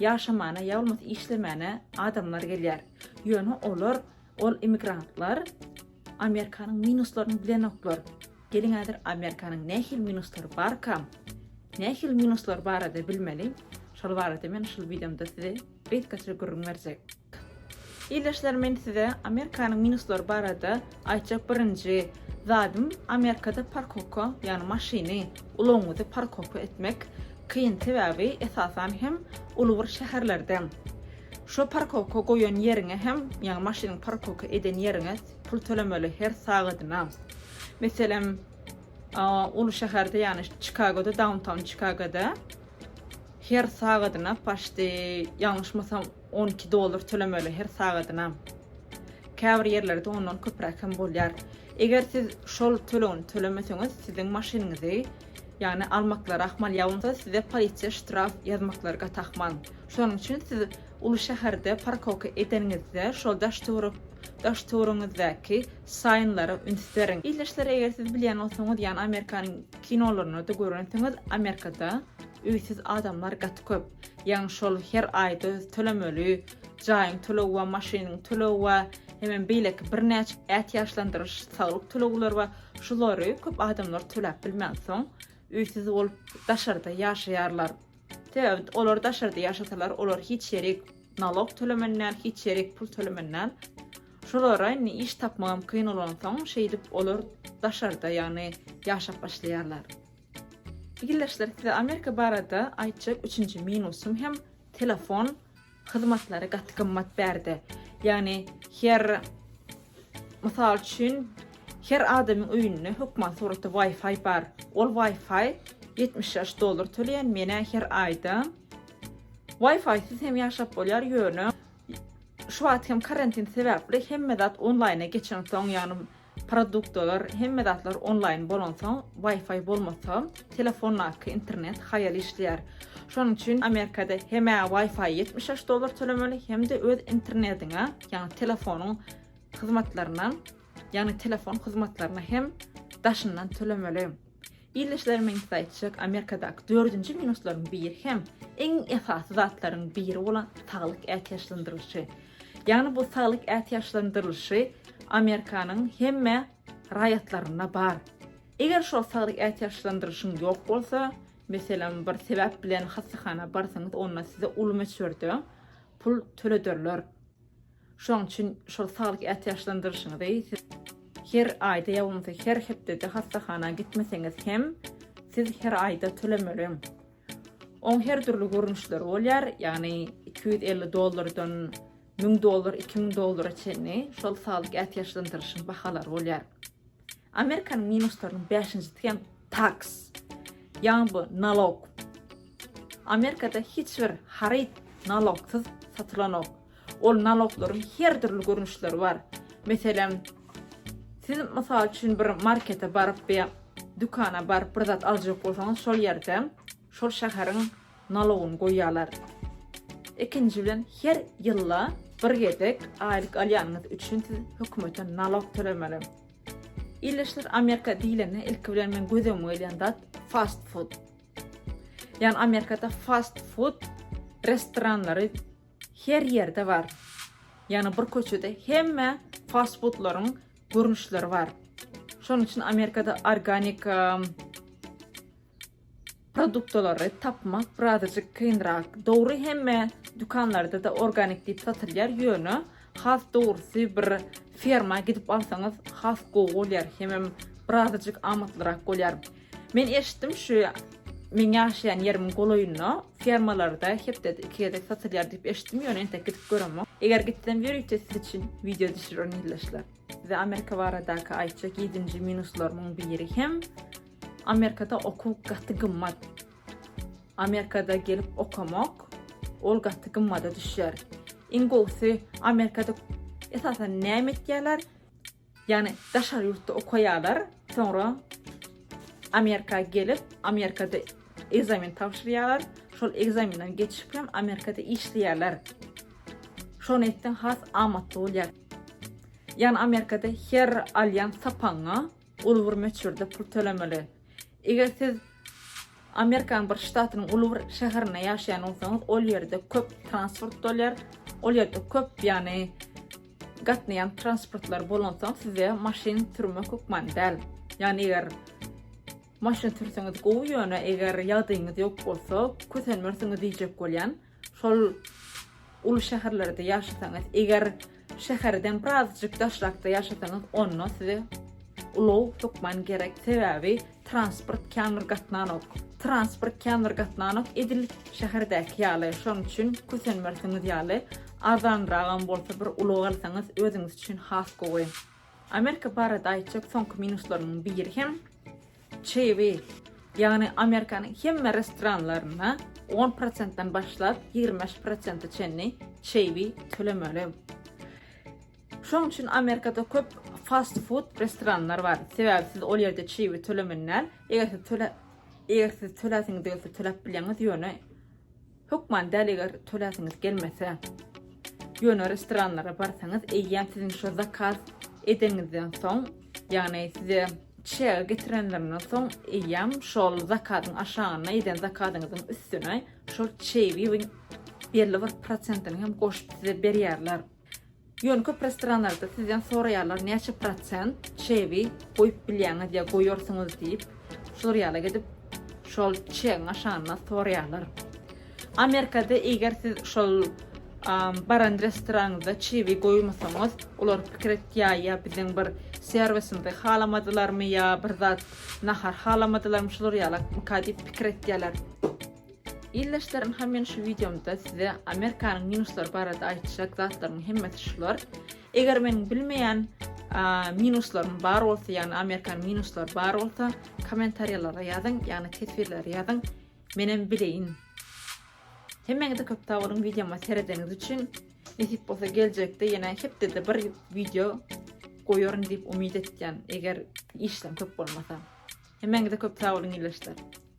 Ýaşamana ýa bolmasa işlemänä adamlar gelýär. Ýöne olar, ol immigrantlar Amerikanyň minuslaryny bilenoklar. Geliň häzir Amerikanyň nähili minuslary barkam, nähili minuslary barada bilmeli. Şol barada men şul wideomda size gysgaça gürrüň berjek. Ildeşler men size Amerikanyň minuslary barada aýtjak birinji zadym Amerikada parkowka ýagny maşyny ulagyňyzy parkowka etmek kyn sebäbi esasan hem uly bir şäherlerde şo parkowka goýan ýeriňe hem ýagny maşynyňy parkowka eden ýeriňe pul tölemeli her sagadyna meselem uly şäherde ýagny Çikagoda dawntown Çikagoda her sagadyna paşti ýalňyşmasam On iki dollar tölemeli her sagadyna. Käbir ýerlerde ondan köpräk hem bolýar. Eger siz şol tölegini tölemeseňiz, siziň maşynyňyzy, ýagny almaklary ahmal ýa bolmasa size polisiýa ştraf ýazmaklary gaty ahmal. Şonuň üçin siz uly şäherde parkowka edeniňizde şol daş-töwerek daş-töweregiňizdäki saýynlara üns beriň. Ildeşler eger siz bilýän bolsaňyz, ýagny Amerikanyň kinolarynda-da görensiňiz, Amerikada, Öýsüz adamlar gaty köp. Ýaňy şol her aýda öz tölemeli jaýyň töleg we maşynyň töleg we hemem beýleki birnäçe ätiýaçlandyryş saglyk tölegler we şulary köp adamlar töläp bilmänsoň öýsüz bolup daşarda ýaşaýarlar. Sebäbi olar daşarda ýaşasalar olar hiç ýerik nalog tölemänler hiç ýerik pul tölemänler. Şolara indi iş tapmagam kyn olansoň şeýdip olar daşarda ýagny ýaşap başlaýarlar. Ildeşler size Amerika barada aýtjak üçünji minusym hem telefon hyzmatlary gaty gymmat bärde. Ýagny her mysal üçin her adamyň öýünde hökman suratda Wi-Fi bar. Ol Wi-Fi 76 dollar töleýän menä her aýda. Wi-Fi siz hem ýaşap bolýar ýöne şu wagt hem karantin sebäpli hemme zat onlaýna geçen soň ýagny Produktalar, hemme zatlar onlaýn bolansoň, Wi-Fi bolmasa, telefondaky internet haýal işleýär. Şonuň üçin Amerikada hem Wi-Fi ýetmiş şeş dollar tölemeli, hem-de öz internediňe, ýagny telefonyň hyzmatlaryna, ýagny telefon hyzmatlaryna hem daşyndan tölemeli. Ildeşlerimiň üsti aýtjak Amerikadaky dördünji minuslaryň biri hem iň esasy zatlaryň biri bolan saglyk ätiýaçlandyrylyşy. Ýagny bu saglyk ätiýaçlandyrylyşy Amerikanyň hemme raýatlarynda bar. Eger şol saglyk ätiýaçlandyrylyşyň ýok bolsa, meselem bir sebäp bilen hassahana barsaňyz onda size uly möçberde pul tölederler. Şoň üçin şol saglyk ätiýaçlandyryşyňyzy siz her aýda ýa bolmasa her hepdede hassahana gitmeseňiz hem, siz her aýda tölemeli. Oň her dürli görnüşleri bolýar, ýagny iki ýüz elli dollardan müň dollar, iki müň dollara çenli şol saglyk ätiýaçlandyryşyň bahalary bolýar. Amerikanyň minuslarynyň bäşinji tükem tax, ýagny bu nalog. Amerikada hiç bir haryt nalogsyz satylanok. Ol naloglaryň her dürli görnüşleri bar. Meselem, siz mysal üçin bir markete baryp ýa dükana baryp bir zat aljak bolsaňyz, şol ýerde Şol şäheriň nalogyny goýýarlar. Ikinji bilen her ýylda bir gezek aýlyk alýanyňyz üçin siz hökümete nalog tölemeli. Illeşler Amerika diýlende ilki bilen meň göz öňüme gelýän zat fast food. Ýani Amerikada fast food restoranlary her ýerde bar. Ýani bir köçede hemme fast foodlaryň görnüşleri bar. Şonuň üçin Amerikada organika Produktlary tapmak birazajyk kynrak. Dogry hemme dükanlarda-da organik diýip satylýar, ýöne has dogrusy bir ferma gidip alsaňyz has gowy bolýar, hemem birazajyk amatlyrak bolýar. Men eşitdim şu meň ýaşaýan ýerimiň golaýynda fermalarda hepdede iki gezek satylýar diýip eşitdim, ýöne entek gidip göremok. Eger gitsem ýörite siz üçin wideo düşürerin ildeşler. Size Amerika baradaky aýtjak ýedinji minuslarymyň biri hem Amerikada okuw gaty gymmat. Amerikada gelip okamak ol gaty gymmada düşer. Iň gowusy Amerikada esasan näme etýärler? Ýagny daşary ýurtda okaýarlar, soňra Amerika gelip, Amerikada ekzamen tabşyrýarlar, şol ekzamenden geçip hem Amerikada işleýärler. Şony etseň has amatly bolýar. Ýagny Amerikada her alýan sapagyňa Uly bir möçberde pul tölemeli. Eger siz Amerikanyň bir ştatynyň uly bir şäherinde ýaşaýan bolsaňyz, ol ýerde köp transport bolýar. Ol ýerde köp, ýagny gatnaýan transportlar bolansoň size maşyn sürmek hökman däl. Ýagny eger maşyn sürseňiz gowy, ýöne eger ýagdaýyňyz ýok bolsa, kösenmersiňiz diýjek bolýan. Şol uly şäherlerde ýaşasaňyz, eger şäherden birazjyk daşrakda ýaşasaňyz, onda size ulag hökman gerek, sebäbi transport kän bir gatnanok. Transport kän bir gatnanok, edil şäherdäki ýaly. Şonuň üçin kösenmersiňiz ýaly, arzanragam bolsa bir ulag alsaňyz, özüňiz üçin has gowy. Amerika barada aýtjak soňky minuslaryň biri hem, Çeýwi, ýagny Amerikanyň hemme restoranlarynda on prosentden başlap ýigrimi bäş prosente çenli çeýwi tölemeli. Şonuň üçin Amerikada köp fast food restoranlar bar. Sebäbi siz ol ýerde çeýwi tölemini däl, eger siz töläsiňiz gelse töläp bilýäňiz, ýöne Hökman däl eger töläsiňiz gelmese. Ýöne restoranlara barsaňyz eýýäm siziň şo zakaz edeniňizden soň ýagny size çägi getirenlerinden soň eýýäm şol zakazyň aşagyna eden zakazyňyzyň üstüne şol çeýibiň belli bir prosentini hem goşup size berýärler. Ýöne köp restoranlarda sizden soraýarlar näçe prosent çegi goýup bilýäňiz ýa goýarsyňyz diýip. Şular ýala gidip şol çegiň aşagynda soraýarlar. Amerikada eger siz şol baran restoranyňyzda çebi goýmasaňyz, olar pikir etýär ýa biziň bir serwisimizi halamadylarmy ýa bir zat nahar halamadylarmy şular ýala mka diýip pikir etýärler. Ildeşlerim ha men şu wideomda size Amerikanyň minuslary barada aýtjak zatlaryň hemmesi şular. Eger meniň bilmeýän minuslarym bar bolsa, ýagny Amerikan minuslary bar bolsa, kommentariýalara ýazyň, ýagny teswirlere ýazyň, menem bileýin. Hemmäňize köp sag boluň wideoma seredeniňiz üçin. Nesip bolsa geljekde ýene hepdede bir wideo goýaryn diýip umyt etýän, eger işleň köp bolmasa. Hemmäňize köp sag boluň ildeşler.